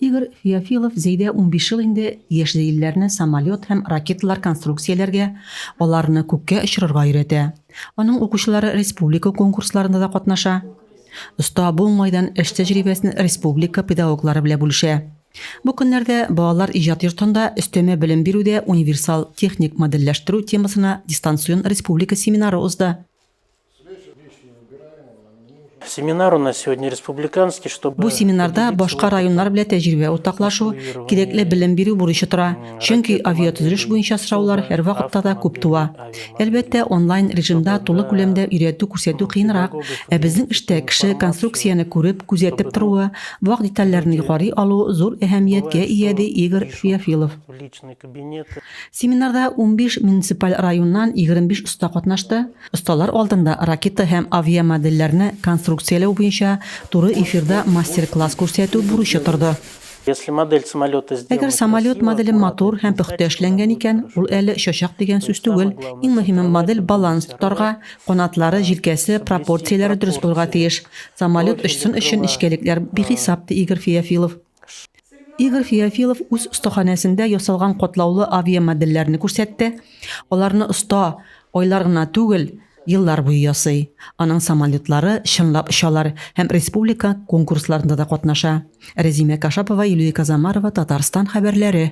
Игорь Феофилов Зәйдә унбиш ел инде яшь зәйлеләрне самолет һәм ракеталар конструкцияләргә, аларны күккә очырырга өйрәтә. Аның укучылары республика конкурсларында да катнаша. Оста бу уңайдан эш тәҗрибәсен республика педагоглары белә бүлешә. Бу көннәрдә балалар иҗат йортында өстәмә белем бирүдә универсал техник модельләштерү темасына дистанцион республика семинары узды. Бу семинарда башка районнар белән тәҗрибә уртаклашу, кирәкле белем бирү бурычы тора, чөнки авиатөзелеш буенча сораулар һәрвакытта да күп туа. Әлбәттә, онлайн режимда тулы күләмдә өйрәтү-күрсәтү кыенрак, ә безнең эштә кеше конструкцияне күреп, күзәтеп торуы, вак детальләрне югары алу зур әһәмияткә ия, ди Игорь Феофилов. Семинарда унбиш муниципаль районнан егерме биш оста катнашты. Осталар алдында ракета һәм авиамодельләрне конструкцияләү буенча туры эфирда мастер-класс күрсәтү бурычы торды. Әгәр самолет моделе матур һәм пөхтә эшләнгән икән, ул әле очачак дигән сүз түгел. Иң мөһиме, модель баланс тотарга, канатлары, җилкәсе, пропорцияләре дөрес булырга тиеш. Самолет очсын өчен нечкәлекләр бихисап, ди Игорь Феофилов. Ш. Игорь Феофилов үз остаханәсендә ясалган катлаулы авиамодельләрне күрсәтте. Аларны оста айлар гына түгел, еллар буе ясый. Аның самолетлары чынлап очалар һәм республика конкурсларында да катнаша. Рәзимә Кашапова, Юлия Казамарова, Татарстан хәбәрләре.